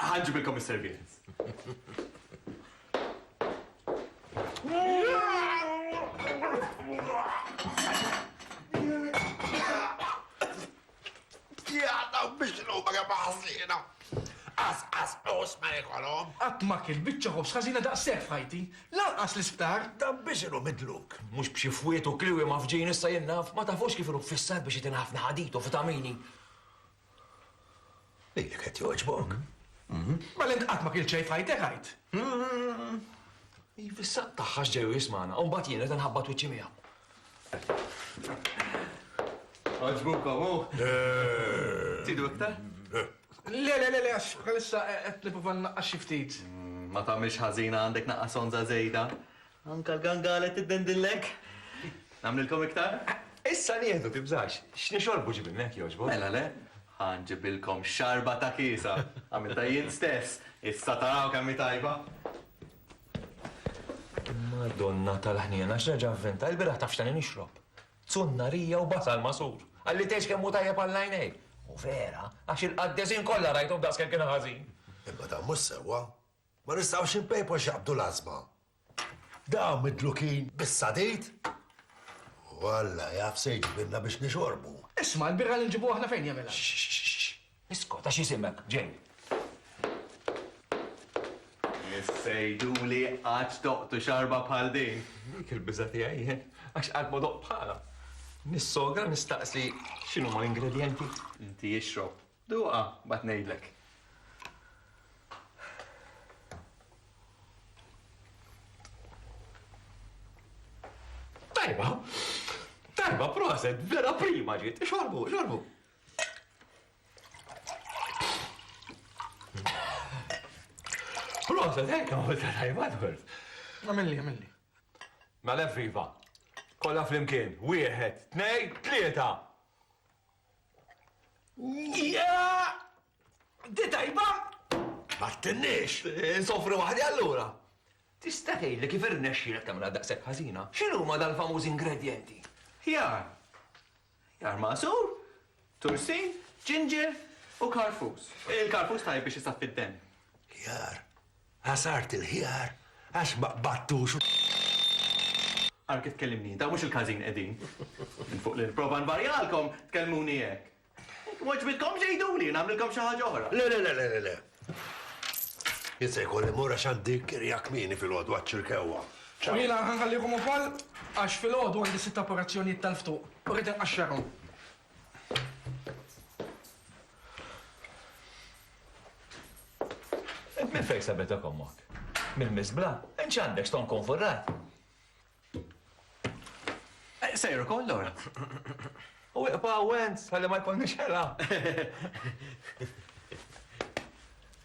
Ħa nġibilkom is-serviettes. Jgħadna biex l-umma kemm ħażina. As, as, os ma jikolom. Qatt ma kien biċċa ħoss ħażina daqshekk f'ħajti. Lanqas l-isptar. Dan biex inhu midluk. Mhux b'xi fwiet u kliwi ma fġin issa jien naf. Ma tafux kif inhu fissat biex jitina ħafna ħadit u vitamini. Lilek qed jogħġbok? Mela int qatt ma kilt xejn f'ħajtek għid? Iva issa tagħha x'ġej jismagħna u mbagħad jien qed inħabbat wiċċi miegħu. Għaġbuk hawn hu? Tidu iktar? Le, le, le, għax bħalissa qed nipprova nnaqqas xi ftit. Ma tagħmilx ħażina għandek naqqas onża żejda. Anke l-gangale tiddendillek? Nagħmlilkom iktar? Issa nieħdu, tibżax. X'nixorbu ġibilna jekk jogħġbok? Mela le, ħa nġibilkom xarba ta' kiesa. Għamiltha jien stess, issa taraw kemm hi tajba. Madonna tal-ħniena, għax nerġa' nventa, ilbieraħ taf x'tani nixrob? Zunnarija u basal magħsur. Qalli tgħix kemm hu tajjeb għall-għajnejn. U vera, għax il-qaddesin kollha rajthom daqs kemm kien ħażin. Imma dan mhux sewwa. Ma nistgħux inpejpu x'jaqbdu l-għażba. Dawn midlukin bis-sadid! U Alla jaf se jġibilna biex nixorbu. Isma', il-birra li nġibu aħna fejn jagħmilha? Iskot, għax jisimek, ġej. Issejduli qatt doqtu xarba bħal din! Dik il-biża' tiegħi jien, għax qatt ma doqt bħalha. Nis-sogra nistaqsi x'inhuma l-ingredjenti. Inti ixrob, Duqha, mbagħad ngħidlek. Tajba! Tajba, proset, vera prima ġiet. Xorbu, xorbu. Proset, hekk għamil ta' tajba, Edward. Għamilli, għamilli. Mela viva. Kolla flimkien, wieħed, tnej, tlieta. Di tajba! Ma tinniex! Insofri waħdi allura! Tista' tgħidli kif irnexxielek tagħmilha daqshekk ħażina? X'inhuma dal-famużi ingredjenti? Ħjar. Ħjar magħsur, tursin, ġinġer u karfus. Il-karfus tajjeb biex isaffi d-demm. Ħjar. Ħasart il-ħjar għax ma qbadtux u. Ara kif tkellimni int, hawn mhux il-każin qegħdin. Minn fuq li nipprova nvarjalkom, tkellmuni hekk. Jekk m'għoġbitkomx għiduli u nagħmlilkom xi ħaġa oħra. Le, le, le, le, le. Jien se jkolli mmur għax għandi kirja kmieni filgħodu għaċ-ċirkewwa. U jiena ħa nħallikom ukoll għax filgħodu għandi sitt apparazzjonijiet tal-ftuq u rrid inqaxxarhom. Int minn fejn sabetek ommok? Mill-miżbla? Int x'għandek ston kun furrat? Eh, sejru koll ora. U iqba' wenz, għalli ma jkollniex ħela.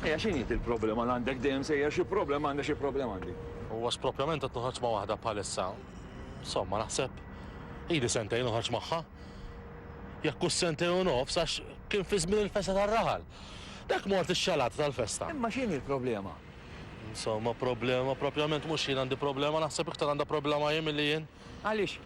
Ejja x'inhi dik problema li għandek dejjem sejjer xi problema għandek xi problema għandi. U għax proprjament qed noħorġ ma' waħda bħalissa, insomma naħseb ili sentejn noħorġ magħha. Jekk hux sentejn u nofs għax kien fi żmien il-festa tar-raħal. Dak mort ix-xalata tal-festa. Imma x'inhi l-problema? Insomma problema proprjament mhux jien għandi problema naħseb iktar għandha problema hi milli jien. Għaliex?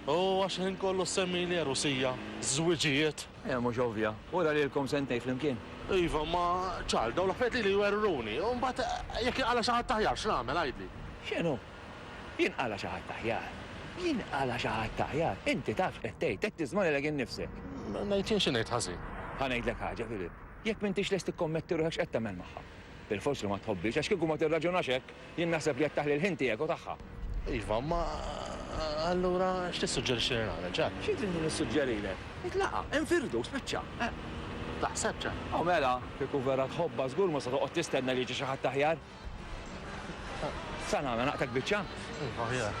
U għax il-ħin kollu ssemmili għerusija, żwiġijiet. Eh, mhux ovvja. Ura lilkom sentejn flimkien. Iva, ma ċar, dawn l-affarijiet lili jwerruni. U mbagħad jekk jinqala' xi ħadd aħjar x'nagħmel, għidli? X'inhu? Jinqala' xi ħadd aħjar? Jinqala' xi ħadd aħjar? Inti taf x'qed tgħid, qed tiżma' lilek innifsek. Ngħid jien xi ngħid ħażin? Ħa ngħidlek ħaġa, Philip. Jekk m'intix lest tikkommetti ruħek x'qed tagħmel magħha? Bilfors li ma tħobbhiex, għax kieku ma tirraġunax hekk, Jien naħseb li qed taħli l-ħin tiegħek u tagħha. Iva, imma allura x'tissuġġerixxi li nagħmel, Jack? Xi tridni nissuġġerilek? Itlaqa', infirdu, spiċċa. Eh, taħseb, Jack? O mela, kieku vera tħobbha żgur ma se toqgħod tistenna li jiġi xi ħadd aħjar. Sa nagħmel, naqtak biċċa? Iva, aħjar.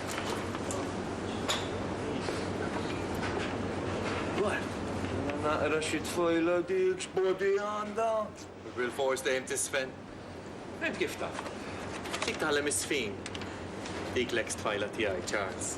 Naqra xi tfajla dik, x'body għandha? Bilfors dejjem tiżfen. Int kif taf? Dik tagħlem iż-żfin. Dik l-eks tfajla tiegħi, Charles.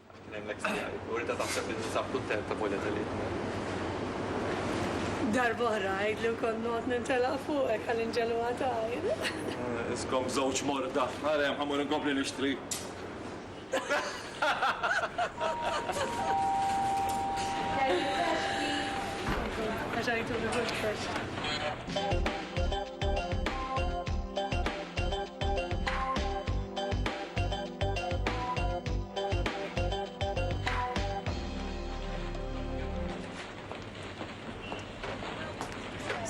Kien hemm l-eks tiegħi u rridha taħseb li ninsab kuntenta b'Oleg Aliev. Darba oħra għidlu kont noqgħod nintelaq fuqek għal inġel u għatajr. Iskom żewġ morda. Ara hemm, ħa mmur inkompli nixtri.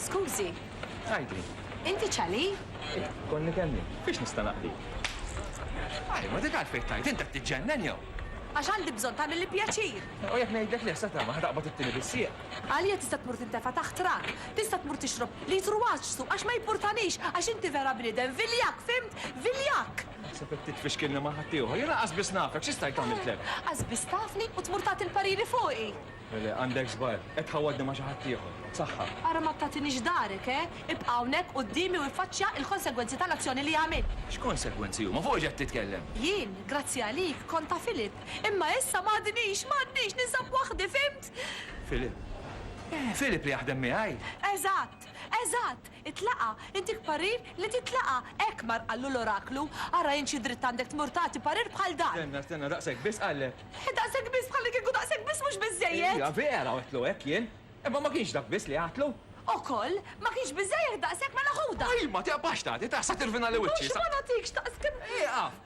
Skużi. Tgħidli. Inti ċali? Konni kelli. Fiex nista' naqdi? Għaj, ma dik għalfejn tgħid, inti qed tiġġennen jew? Għax għandi bżonn tagħmilli pjaċir. U jekk ngħidlek li ħsad ma ħataqbad it-tieni bissieq. Għalija tista' tmur tintefa' taħt trak. Tista' tmur tixrob litru għaġsu għax ma jimpurtanix għax inti vera bniedem viljakk, fimt? Viljakk! Naħseb qed titfixkilni ma' ħaddieħor. Jiena qas biss nafek, xi stajt għamiltlek? Qas biss tafni u tmur tagħti l-pariri fuqi? Le, le, għandek żball. Qed tħawwadni ma' xi ħaddieħor. B'saħħa. Ara ma tagħtinix darek, eh? Ibqa' hawnhekk quddiemi u iffaċċja l-konsegwenzi tal-azzjoni li għamilt. X'konsegwenzi huma? Fuq x'qed titkellem? Jien, grazzi għalik, kont ta' Philip. Imma issa m'għadnix, m'għadnix, ninsab waħdi, fimt? Philip. Philip li jaħdem miegħi! Eżatt! Eżatt! Itlaqa'! Intik parir li titlaqa'! Hekk mar qallu l-oraklu. Ara int xi dritt għandek tmur tagħti parir bħal dan! Stenna, stenna, daqshekk biss qallek? Eħe, daqshekk biss, bħallikieku daqshekk biss mhux biżżejjed! Iva, vera għedtlu hekk jien. Imma ma kienx dak biss li għedtlu. Ukoll? Ma kienx biżżejjed daqshekk, mela ħudha! Imma tieqpax tagħti, taqsa' tirvinali wiċċi, sa. Mhux ma nagħtikx daqshekk! Ieqaf!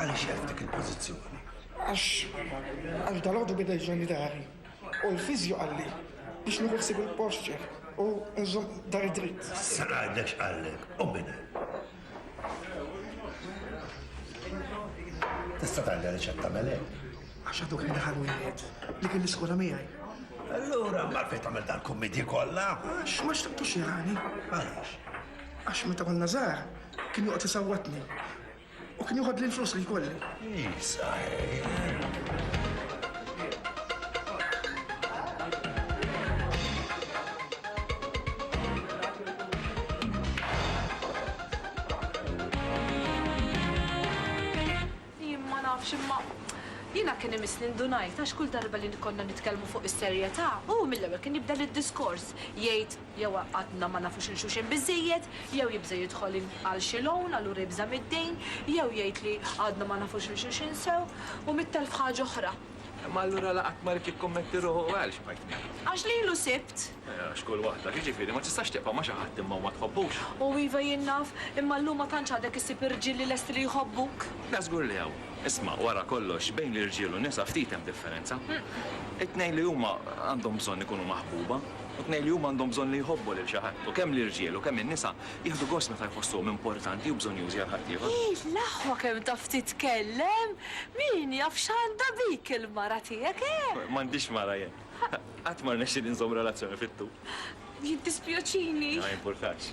Għaliex jgħid dik il-pożizzjoni? Għax għal dal-għodu bidej bżonni dari. U l-fizju għalli biex nieħu ħsibu l-posture u nżom dar id-dritt. Sarajdex għallek, u minna. Tista' tagħli għaliex qed tagħmel hekk. Għax għadu kien daħal wieħed li kien l-iskola miegħi. Allura, ma fejn tagħmel dal-kummedji kollha? Għax ma xtaqtux jirani. Għaliex? Għax meta konna żgħar kien joqgħod isawwatni U kien joħodli l-flus li jkolli. Jien ma nafx imma jiena kien imissni ndunajt għax kull darba li konna nitkellmu fuq is-serjetà, hu mill-ewwel kien jibda lid-diskors jgħid, jew għadna ma nafux 'il xulxin biżżejjed, jew jibża' jidħol għal xi loan, allura jibża' mid-dejn, jew jgħid li għadna ma nafux 'il xulxin sew, u mitt elf ħaġa oħra. Imma allura la qatt ma ried jikkommetti ruħu u għalx, partner? Għax lilu sibt. Eh, għax kull waħda, jiġifieri ma tistax tibqa' ma' xi ħadd imma u ma tħobbux. O iva, jien naf, imma llum ma tantx għadek issib irġiel li lesti li jħobbuk. Le, żgur li hawn. Isma', wara kollox, bejn l-irġiel u n-nisa ftit hemm differenza. It-tnejn li huma għandhom bżonn ikunu maħbuba. u tnejn li huma għandhom bżonn li jħobbu lil xi ħadd, u kemm l-irġiel u kemm in-nisa jieħdu gost meta jħossuhom importanti u bżonnjużi għal ħaddieħor. Hi, l-aħwa kemm taf titkellem! Min jaf x'għandha bik il-mara tiegħek, eh? M'għandix mara jien. Qatt ma rnexxieli nżomm relazzjoni fit-tul. Jiddispjaċini. Ma jimpurtax.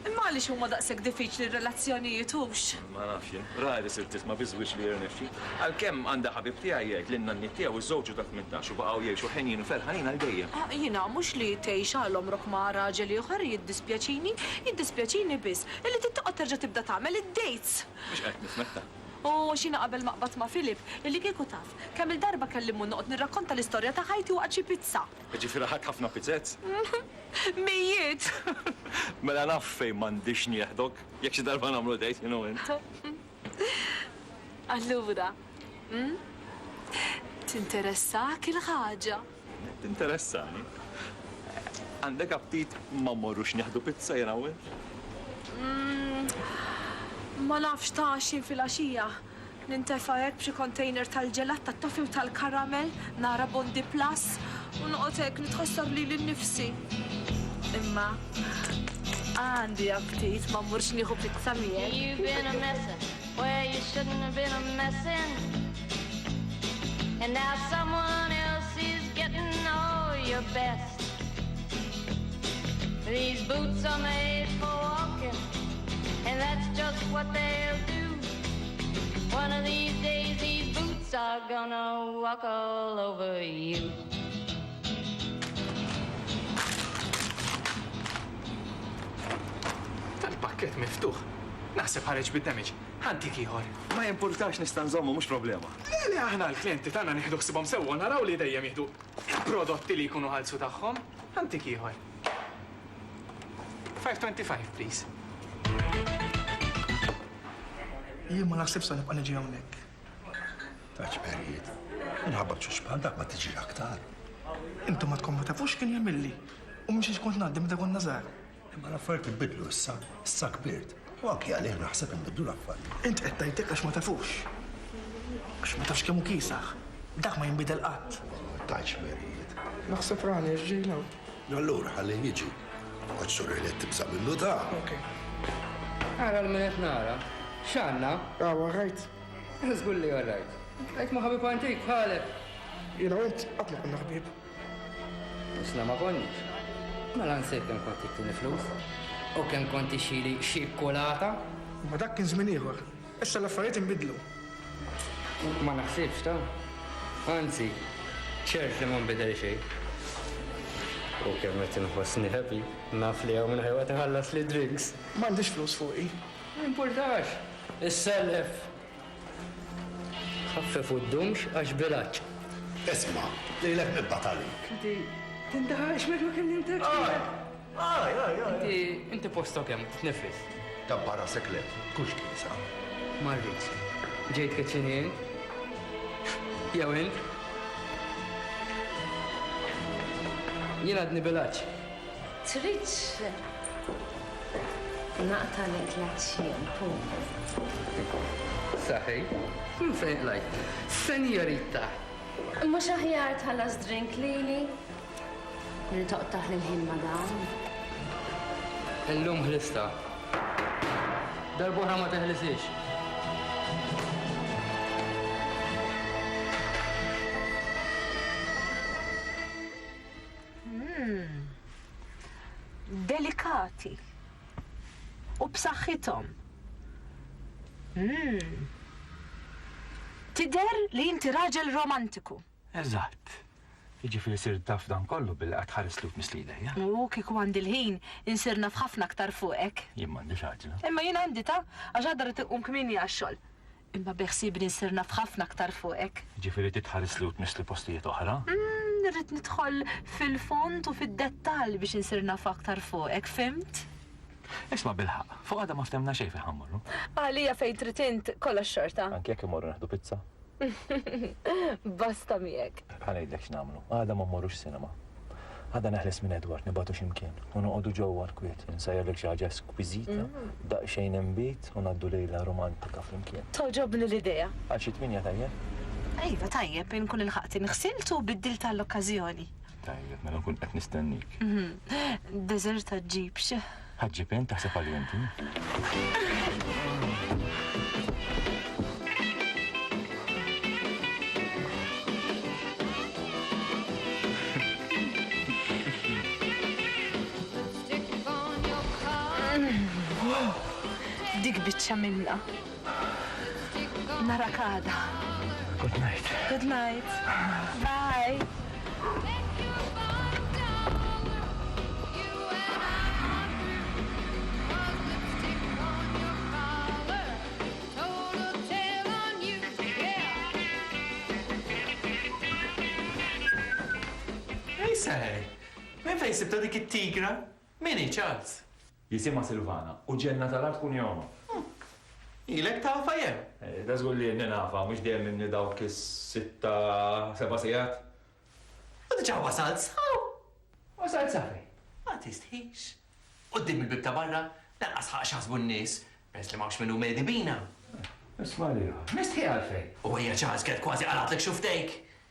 Imma għaliex huma daqshekk diffiċli r-relazzjonijiet, hux? Ma nafx jien. Rari sirt tifhma bi żwieġ li jirnexxi. Għalkemm għandi ħabib tiegħi jgħid li n-nanniet tiegħu żżewġu ta' tmintax u baqgħu jgħixu ħenjin u ferħanin għal dejjem. Jiena mhux li tgħix għal għomrok ma' raġel ieħor jiddispjaċini. Jiddispjaċini biss illi trid toqgħod terġa' tibda tagħmel id-dates! Mhux qed nifhmek ta'. U x'jiena qabel ma qbadt ma' Philip, illi kieku taf kemm-il darba kelli mmur noqgħod nirrakkonta l-istorja ta' ħajti waqt xi pizza! Jiġifieri ħadt ħafna pizzez? Mijiet! Mela naf fejn m'għandix nieħdok. Jekk xi darba nagħmlu date jien u int. Allura, hm? Tinteressahk il-ħaġa? Tinteressani. Għandek aptit ma mmorrux nieħdu pizza jiena u int? Ma nafx ta' x'inhi filgħaxija. Nintefa' hekk b'xi kontejner tal-ġelat, tat-toffee u tal-karamell, nara Bondi Plus u noqgħod hekk nitħossab lili nnifsi. Imma għandi aptit, ma mmurx nieħu pizza miegħek. And that's just what they'll do One of these days these boots are gonna walk all over you Kif miftuħ. Naħseb ħareġ bid-damage. Ħantik ieħor. Ma jimpurtax nista' nżommu mhux problema. Le le aħna l-klijenti tagħna nieħdu ħsibhom sewwa naraw li dejjem jieħdu prodotti li jkunu ħalsu tagħhom. Ħantik ieħor. 525 please. Jien ma naħsibx se nibqa' niġi hawnhekk. Ta' ċperijiet. Minħabba b'ċuċ bħal dak ma tiġix aktar. Intom ma tkun ma tafux x'kien jagħmilli. U mhux għax kont ngħaddi meta konna żgħar. Imma l-affarijiet inbidlu issa, issa kbirt. U anki għalih naħseb inbidlu l-affarijiet. Int qed tgħid hekk għax ma tafux. Għax ma tafx kemm hu kiesaħ. Dak ma jinbidel qatt. Ma tajtx werijiet. Naħseb rani għax ġej 'l hawn. Allura ħallih jiġi. Għax sur Elliott tibża' minnu dan. Ok. Ara 'l min qed nara. X'għandna? Hu all right? Żgur li all right. Qed ma' ħabib antik bħalek. Jiena u int qatt ma konna ħbieb. Isna ma konniex. Mela nsejt kemm kont tittini flus u kemm kont tixxili xi kulata. Imma dak kien żmien ieħor. Issa l-affarijiet inbidlu. Ma naħsibx ta'. Anzi, ċert li ma nbidel xejn. U kemm qed inħossni happy. Naf li hawn min ħajqgħod iħallasli d-drinks. M'għandix flus fuqi. M'jimpurtax. Issellef Ħaffef u ddumx għax b'ilgħaġġ. Isma', lilek nibgħat għalik. Inti tindaħalx meta ma kellimtekx. Għaj! Għaj, għaj, għaj! Inti, inti postok hemm, titneffes. Tabba' rasek le, tkunx kisa. Ma rridx. Ġejt kitchen int? Jew int? Jien għadni b'ilgħaġġ. Tridx naqtagħlek l-għatxien, Paul? Saħi, minn fejn qlajt? Senjorita! Mhux aħjar tħallas drink lili milli toqtagħ lil ħin ma' dawn? Illum ħlistha. Darb'oħra ma teħlisiex. Delikati u b'saħħithom. Tidher li inti raġel romantiku. Eżatt. Jiġifieri sirt taf dan kollu billi qgħadt tħares lhud mislilek, jah? U kieku għandi l-ħin, insir naf ħafna aktar fuqek. Jien m'għandix għaġla. Imma jien għandi ta! Għax għada rrid inqum kmieni għax-xogħol. Imma beħsiebni nsir naf ħafna aktar fuqek. Jiġifieri trid tħarisli u tmissli postijiet oħra? Umm, irrid nidħol fil-fond u fid-dettall biex insir naf aktar fuqek, fhimt? Isma' bilħaqq, fuq għada ma ftemna xejn fejn ħa mmorru. Għalija fejn trid int, kollox xorta. Anki jekk immorru neħdu pizza? Basta miegħek. Ħa ngħidlek x'nagħmlu, għada ma mmorrux cinema. Għada neħles minn Edward, nibatu ximkien, u noqogħdu ġewwa l-kwiet, insajrlek xi ħaġa eskwiżita, mm. daqsxejn imbit u ngħaddu lejla romantika flimkien. Toġobni l-idea. Għal xi tminja tajjeb? Ejva tajjeb, inkun il-ħaqti nħsilt u biddil tal-okkażjoni. Tajjeb, mela nkun qed nistennik. Mhm. Deżerta ġibx. Ħaġġi pen taħseb għalih inti? Dik biċċa minna. Narak għada. Good night. Good night. Bye. Hey Sally! Minn fejn sibtha dik it-tigra? Min hi, Charles? Jisimha Silvana u ġenna tal-art tkun jomha. Huh! Ilek tafha jew? Eh, da żgur li nafha, mhux dejjem inni dawk is-sitta, seba' sigħat. U diġà wasalt s'hawn? Wasalt sa fejn? Ma tistħix. Quddiem il-bieb ta' barra, lanqas ħaqq x'jaħsbu n-nies, peress li m'hawnx min hu medi bina. Isma' liha, mistħi għalfejn? U hija ċażget kważi qalatlek xufftejk!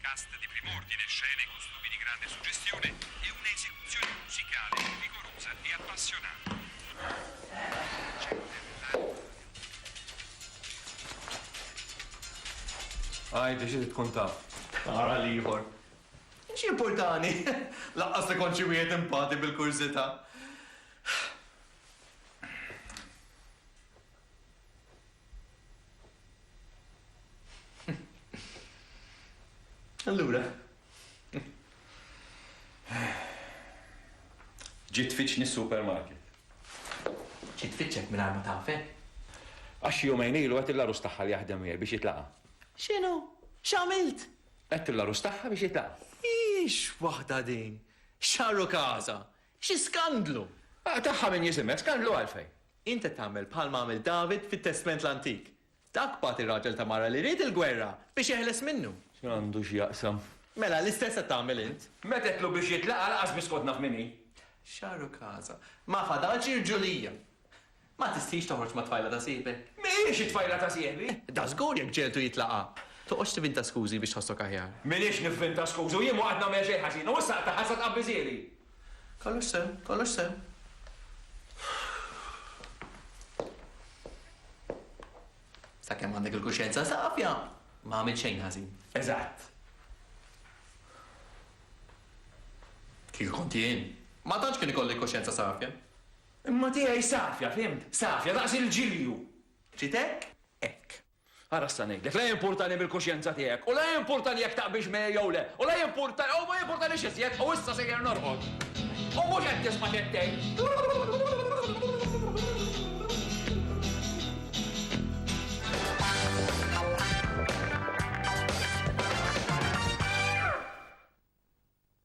Cast di prim'ordine, scene e costumi di grande suggestione e una esecuzione musicale vigorosa e appassionante. Għid li xi trid tkun taf. Ara l-ieħor. X'jimpurtani? Lanqas li kont xi wieħed impati bil-kurżità. Allura. Ġiet tfittxni s-supermarket. Ġiet tfittxek mingħajr ma tafek? Għax xi jumejn ilu għedt lill-għarus tagħha li jaħdem miegħi biex jitlaqa'. X'inhu? X'għamilt? Għedt lill-għarus tagħha biex jitlaqa'. Hix waħda din! X'għarru każha! Xi skandlu! Tagħha min jisimgħek, skandlu għalfejn? Int qed tagħmel bħalma għamel David fit-Testment l-Antik. Dak bagħat ir-raġel ta' mara li ried il-gwerra biex jeħles minnu. X'dan għandu x'jaqsam? Mela, l-istess qed tagħmel int. Metedtlu biex jitlaq, lanqas biss kont naf min hi. Xahru casa. Ma fadalx irġulija. Ma tistħix toħroġ mat-tfajla ta' sieħbek? Mhijiex it-tfajla ta' sieħbi! Dażgur jekk ġieltu jitlaqa'! Toqgħodx tivinta skużi biex tħossok aħjar. M'iniex nivvinta skużi u jien ma qatt nagħmel xejn ħażin u issa qed taħħas sa tqabbiżieli! Kollox sew, kollox sew. Sakemm għandek il-kuxjenza safja, ma għamilt xejn ħażin. Eżatt. Kieku kont jien, ma tantx kien ikolli l-kuxjenza safja. Imma tiegħi safja, fhimt? Safja, daqs il-ġilju. Ftit hekk? Hekk. Ara issa ngħidlek, la jimpurtani mill-kuxjenza tiegħek, u la jimpurtani jekk taqbilx miegħi jew le, u la jimpurtani, u ma jimpurtanix iżjed, u issa sejjer norqod. U mhux qed tisma' x'qed tgħid.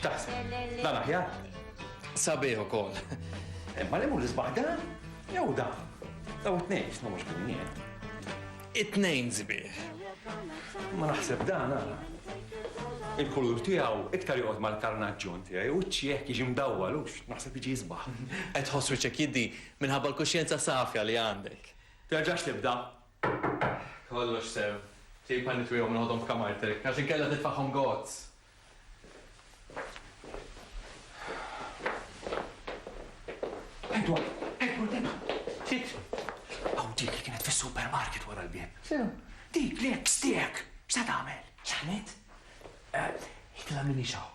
X'taħseb? Dan aħjar? Sabiħ ukoll. Imma li mur l-isbaħ dan? Jew dan? Daw it-tnejn x'ma mhux kunjien. It-tnejn sbieħ. Ma naħseb dan għala. Il-kulur tiegħu iktar joqgħod mal-karnaġġun tiegħi u ċieħ jiġi mdawwal u naħseb jiġi jisbaħ. Qed ħoss wiċċek jiddi Minħabba l-kuxjenza safja li għandek. Terġax tibda. Kollox se. Tip ħalli twieghom il-ħodhom f'kamartek, għax inkella titfagħhom gozz. Edward! Edward, hemm! Ftit! Hawn dik li kienet fis-supermarket wara l-bieb. X'inhu? Dik li hekk stehek! X'se tagħmel? Janet? Hi tila' m'iniex hawn.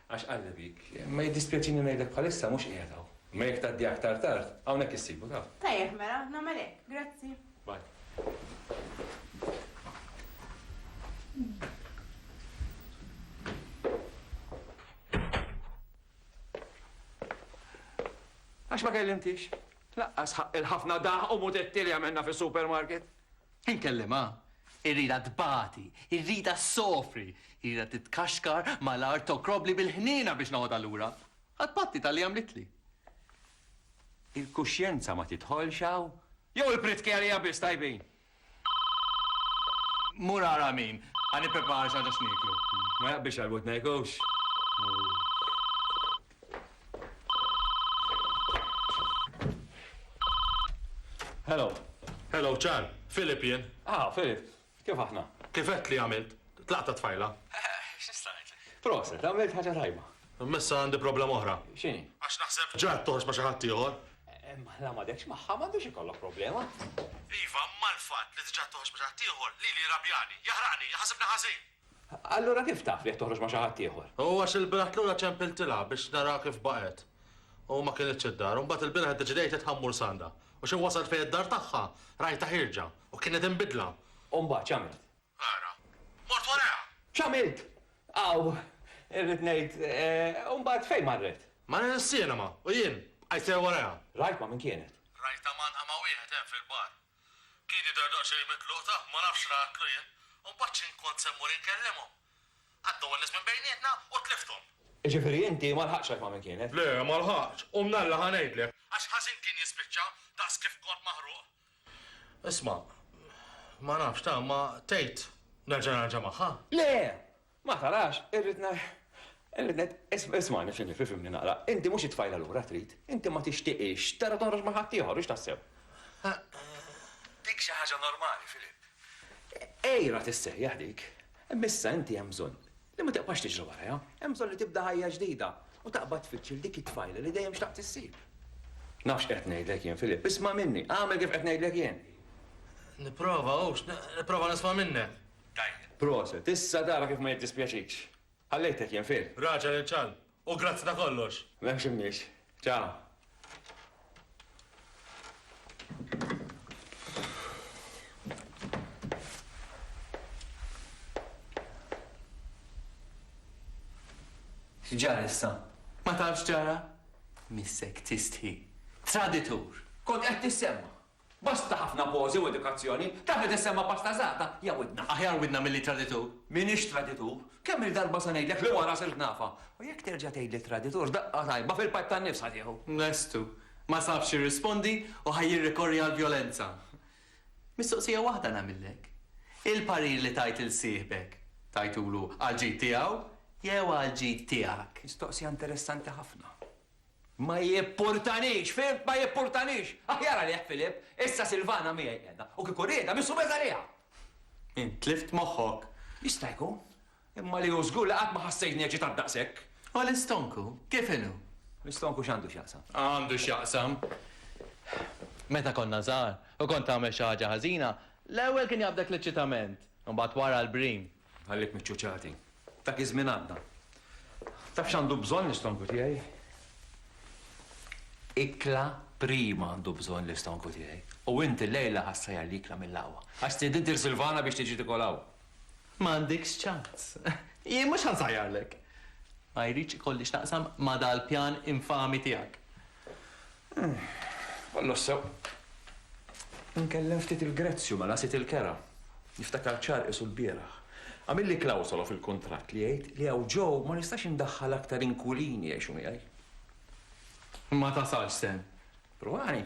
Għax qalli dik, imma jiddispjaċini ngħidlek bħalissa mhux qiegħed hawn. Imma jekk tgħaddi aktar tard, hawnhekk issibu, taf. Tajjeb mela, nagħmel hekk. Grazzi. Bye. Għax ma kellimtix? Lanqas ħaqqi l-ħafna daħq u mutetti li għamilna fis-supermarket? Inkellimha, irridha tbati, irridha ssofri, irridha titkaxkar mal-art tokrobli bil-ħniena biex noħodha lura għat-tbatti talli għamlitli. Il-kuxjenza ma tidħolx hawn? Jew il-pritki għalija biss tajbin? Mur ara min, ħa nipprepara xi ħaġa x'nieklu. Biex għal-wud ma jgħux. Hello. Hello, Charm. Philip jien. Ah, Philip. Kif aħna? Kif qed li għamilt? Tlaqt ta' tfajla. X'nista' ngħidlek? Proset, għamilt ħaġa tajba. Missa għandi problema oħra. X'inhi? Għax naħseb ġrat toħroġ ma' xi ħadd ieħor. La m'għadekx magħha, m'għandux ikollok problema. Iva, imma l-fatt li tġa' toħroġ ma' xi ħadd ieħor lili jrabjani, jaħraqni, iħassibni ħażin. Allura kif taf li qed toħroġ ma' xi ħadd ieħor? U għax ilbieraħ lura ċempiltilha biex naraha kif baqgħet u ma kinitx id-dar. U mbagħad ilbieraħ iddeċidejt li tħammur s'għandha. U xi wasalt fejn id-dar tagħha, rajtha ħierġa u kienet inbidla. U mbagħad x'għamilt? Ara. Mort warajha! X'għamilt? Aw, irrid ngħid, u mbagħad fejn marret? Marret is-sinema u jien bqajt sejjer warajha. Rajt ma' min kienet? Rajtha mgħannqa ma' wieħed hemm fil-bar. Kien jidher daqsxejn mitluq tah, ma nafx x'ratlu jien. U mbagħad x'int kont se mmur inkellimhom? Għaddew in-nies minn bejnietna u tlifthom. Jiġifieri inti ma lħaqtx għarfha min kienet? Le, ma lħaqtx. U mnalla ħa ngħidlek. Għax ħażin kien jispiċċa, daqs kif kont maħruq. Isma', ma nafx, tah, imma tgħid nerġa' narġa' magħha? Le! Ma tarax, irrid ngħid, irrid ngħid, ismagħni, Filip, ifhimni naqra, inti mhux it-tfajla lura trid, inti ma tixtiqhiex tara toħroġ ma' ħaddieħor, hux taħseb? Dik xi ħaġa normali, Filip. Għira tissejjaħ dik. Imma issa inti hemm bżonn li ma tibqax tiġri warajha, hemm bżonn li tibda ħajja ġdida u taqbad tfittx lil dik it-tfajla li dejjem xtaqt issib. Naf x'qed ngħidlek jien, Filip, isma' minni, agħmel kif qed ngħidlek jien. Nipprova, hux, nipprova nisma' minnek. Tajjeb. Proset. Issa tara kif ma jiddispjaċikx. Ħallejtek jien fil. Raġel il-ċalb. U grazzi ta' kollox. M'hemmx imniex. Ciao. X'ġara issa? Ma tafx x'ġara? Missek tistħi. Traditur! Kont qed tissemma. Basta ħafna pożi u edukazzjoni. Tafet issemma pasta żgħata? Ja widna. Aħjar widna milli traditur. M'iniex traditur. Kemm-il darba se ngħidlek li wara sirt nafa. U jekk terġa' tgħidli traditur, daqqa tajba fil-pipe tan-nifs ħa tieħu. Lestu. Ma sabx jirrispondi u ħa jirrikorri għall-vjolenza. Mistoqsija waħda nagħmillek. Il-parir li tajt lil sieħbek, tajtulu għall-ġid tiegħu jew għall-ġid tiegħek? Mistoqsija interessanti ħafna. Ma jippurtanix, fhimt? Ma jippurtanix! Aħjar għalih, Philip, issa Silvana miegħi qiegħda, u kieku riedha, missu beż għaliha! Int tlift moħħok? Jista' jkun. Imma li hu żgur li qatt ma ħassejtni eċitat daqshekk. U l-istonku, kif inhu? L-istonku x'għandu x'jaqsam? Għandu x'jaqsam! Meta konna żgħar, u kont tagħmel xi ħaġa ħażina, l-ewwel kien jaqbdek l-eċitament, u mbagħad wara l-brim. Nħallik miċċuċati. Dak iż-żmien għadda. Taf x'għandu bżonn l-istonku tiegħi? Ikla prima għandu bżonn l-istonku tiegħi. U int illejla ħa ssajjar l-ikla mill-aħwa. Għax stiedint lil Silvana biex tiġi tikol hawn. Ma għandekx ċans. Jien mhux ħa nsajjarlek. Ma jridx ikolli x'naqsam ma' dal-pjan infami tiegħek. Kollox sew. Inkellem ftit il-Grezju mela sid il-kera. Niftakar ċar qisu lbieraħ. Għamilli klawsola fil-kuntratt li jgħid li hawn ġo ma nistax indaħħal aktar inkwilini jgħixu miegħi. Ma tasalx sehem. Provani.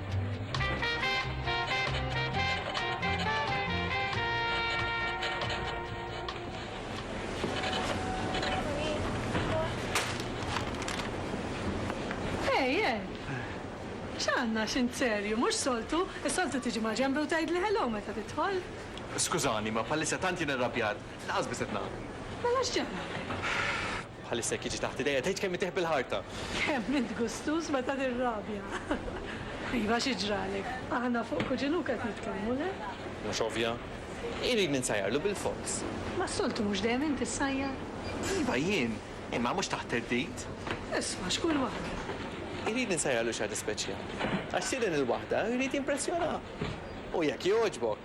Għanna xint serju, mux soltu, soltu tiġi ma ġembi u tajd li hello meta titħol. Skużani, ma palissa tant jien irrabjat, laqas biset naqra. Mela xġemna? Bħalissa jekk jiġi taħt idejja tgħid kemm itih bil-ħarta. Kemm int gustuż meta tirrabja! Iva xi ġralek? Aħna fuq kuġinuk qed nitkellmu, le? Mhux ovvja? Irid ninsajjarlu bil-fors. Mas-soltu mhux dejjem int issajjar? Iva jien, imma mhux taħt theddid. Isma' x'kull waħda. Irid ninsajjarlu xi ħaġa speċjali. Għax sieden il-waħda jrid jimpressjonah. U jekk jogħġbok!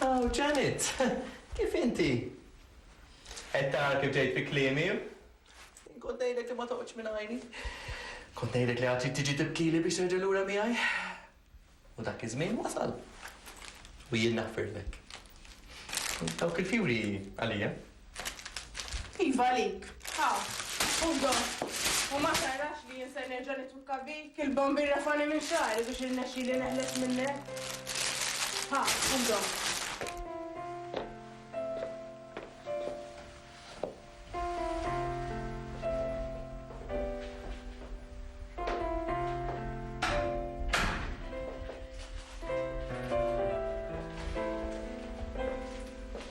Aw, Janet! Kif inti? Qed tara kif ġejt fi kliemi? Kont ngħidlek li ma toqgħodx minn għajni. Kont ngħidlek li għad trid tiġi tibkili biex terġa' lura miegħi. U dak iż-żmien wasal. U jien naħfirlek. Dawk il-fjuri għalija. Iva għalik, ha, u dom, u ma tarax li jien ser nerġa' nitwikka bik, il-bomb irrafgħani minn xagħri biex irnexxieli neħles minnek. Ha, u dom.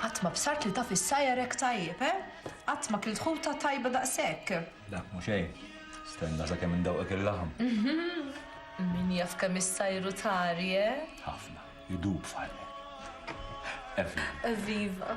Qatt ma bsart li taf is-sajjar hekk tajjeb, eh? Qatt ma kilt ħuta tajba daqshekk. Le, mhu xejn. Stenna sakemm indewqek il-laħam. Min jaf kemm is-sajru tari, eh? Ħafna. Idub f'ħalli. Evviva. Evviva.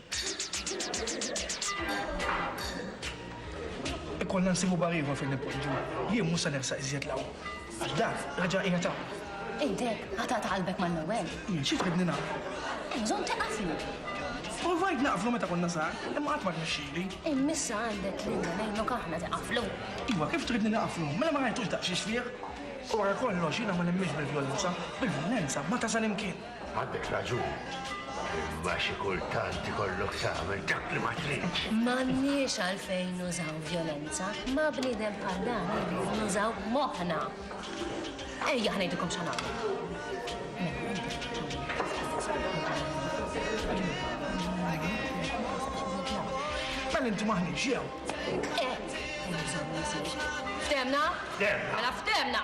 Ikollna nsibu bar ieħor fejn nippoġġu. Jien mhux se nersaq iżjed 'l hawn, għax dak reġa' qiegħed hawn. Idek ħa taqta' qalbek mal-ewwel. Jien xi tridni nagħmel? Hemm bżonn tiqaflu. Provajt naqaflu meta konna żgħar, imma qatt ma rnexxieli. Imma issa għandek lilna ngħinuk aħna tiqaflu. Iva, kif tridni naqaflu? Mela ma rajtux daqsxiex fih? U wara kollox, jiena ma nemminx bil-vjolenza. Bil-vjolenza ma tasal imkien. Għandek raġun, imma xi kultant ikollok tagħmel dak li ma tridx. M'għandniex għalfejn nużaw vjolenza. Ma' bniedem bħal dan irridu nużaw moħħna. Ejja ħa ngħidilkom x'ħa Mela inti maħniex jew? Qed! Ftemna? Ftemna. Mela ftemna!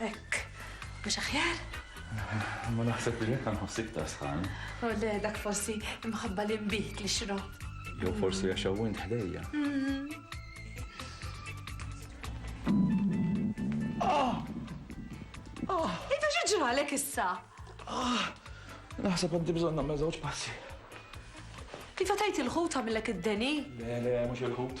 Hekk, mhux aħjar? Ma naħseb li jekk nħoss iktar sħan. Oh le, dak forsi imħabba li nbid li xrob. Jew forsi għax hawn ħdejja. Ah! Ah! Intu xi ġralek issa? Ah! Naħseb għandi bżonn nagħmel żewġ passi. Iva tajt il-ħut għamillek id-deni? Le, le, mhux il-ħut.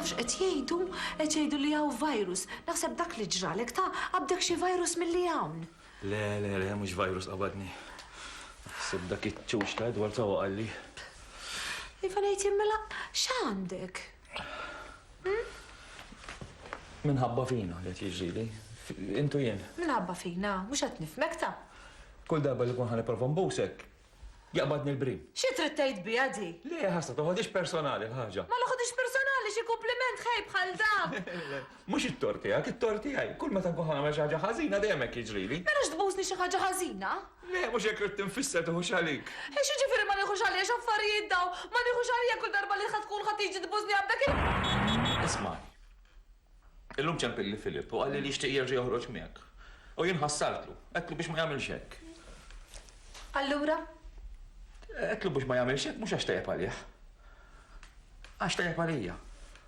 Tafx qed jgħidu? Qed jgħidu li hawn virus. Naħseb dak li ġralek ta' qabdek xi virus milli hawn. Le, le, le, mhux virus qabadni. Naħseb dak iċ-ċuċ ta' Edward sawa qalli. Iva ngħid jien mela x'għandek? Minħabba fina li qed jiġrili. Intu jien. Minħabba fina, mhux qed nifmek ta'. Kull darba li kun ħan nipprova nbusek, jaqbadni l-brim. Xi trid tgħid biha di? Le, ħassa, toħodix personali l-ħaġa. Ma noħodix personali xi kumpliment ħej bħal dan! Mhux it-tort tiegħek, it-tort tiegħi. Kull meta nkun ħa nagħmel xi ħaġa ħażina dejjem hekk jiġrili. Mela x'tbusni xi ħaġa ħażina? Le, mhux hekk ridt infisser, tiħux għalik. X'jiġifieri ma nieħux għalija, x'affarijiet dawn? Ma nieħux għalija kull darba li ħa tkun ħa tiġi tbusni għal dak il-. Ismagħni. Illum ċempilli Philip u qalli li jixtieq jerġa' joħroġ miegħek. U jien ħassartlu. Għedtlu biex ma jagħmilx hekk. Allura? Għedtlu biex ma jagħmilx hekk mhux għax tajjeb għalih. Għax tajjeb għalija.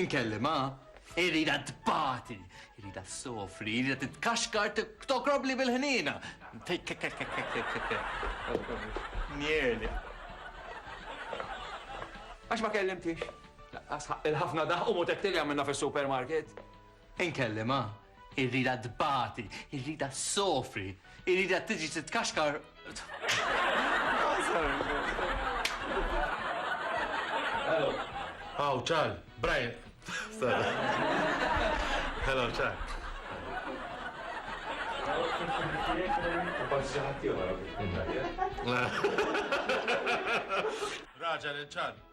Inkellimha, irridha tbati, irridha ssofri, irridha titkaxkar tokrobli bil-ħniena. Nierli. Għax ma kellimtix. Il-ħafna daħqu mutettili għamilna fis-supermarket. Inkellimha, irridha tbati, irridha ssofri, irridha tiġi titkaxkar. Hello. Oh, Charl, Brian. Hello, Charl. Raġa li ċar.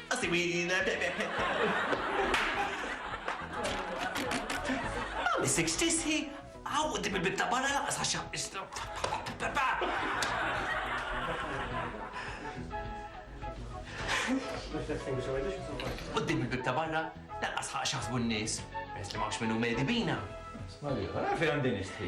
Asimina Ma missek x'tistħi hawn quddiem il-bieb ta' barra lanqas għax Quddiem il-bieb ta' barra lanqas ħa x'jaħsbu n-nies peress li m'hawnx min hu medi bina. Sma' l-ieħor, ara fejn għandi nistħi.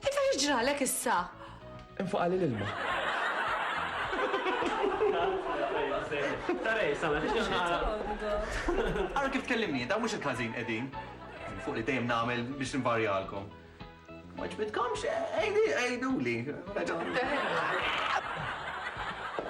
Ita x'ġralek issa? Infaqali l-ilma. Tara hi, sala fiex qed nara. Ara kif tkellimni int, hawn mhux qed ħażin qegħdin. Fuq li dejjem nagħmel biex nvarjalkom. Ma ġbidkomx? Għiduli. Għiduli.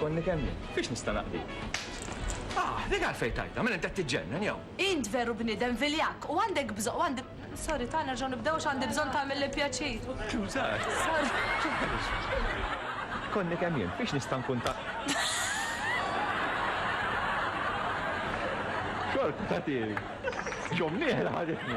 Konni kemm jien. Fiex nista' naqdik? Ah, dik għalfejn tgħidha, mela int qed tiġġennen jew? Int veru bniedem viljakk u għandek bżonn u għandi Sorry, ta' nerġgħu nibdew għax għandi bżonn tagħmilli pjaċir. Skużat. Konni kemm jien, fiex nista' nkun ta' Xorta tagħtini. X'omm nieħla ħaditni.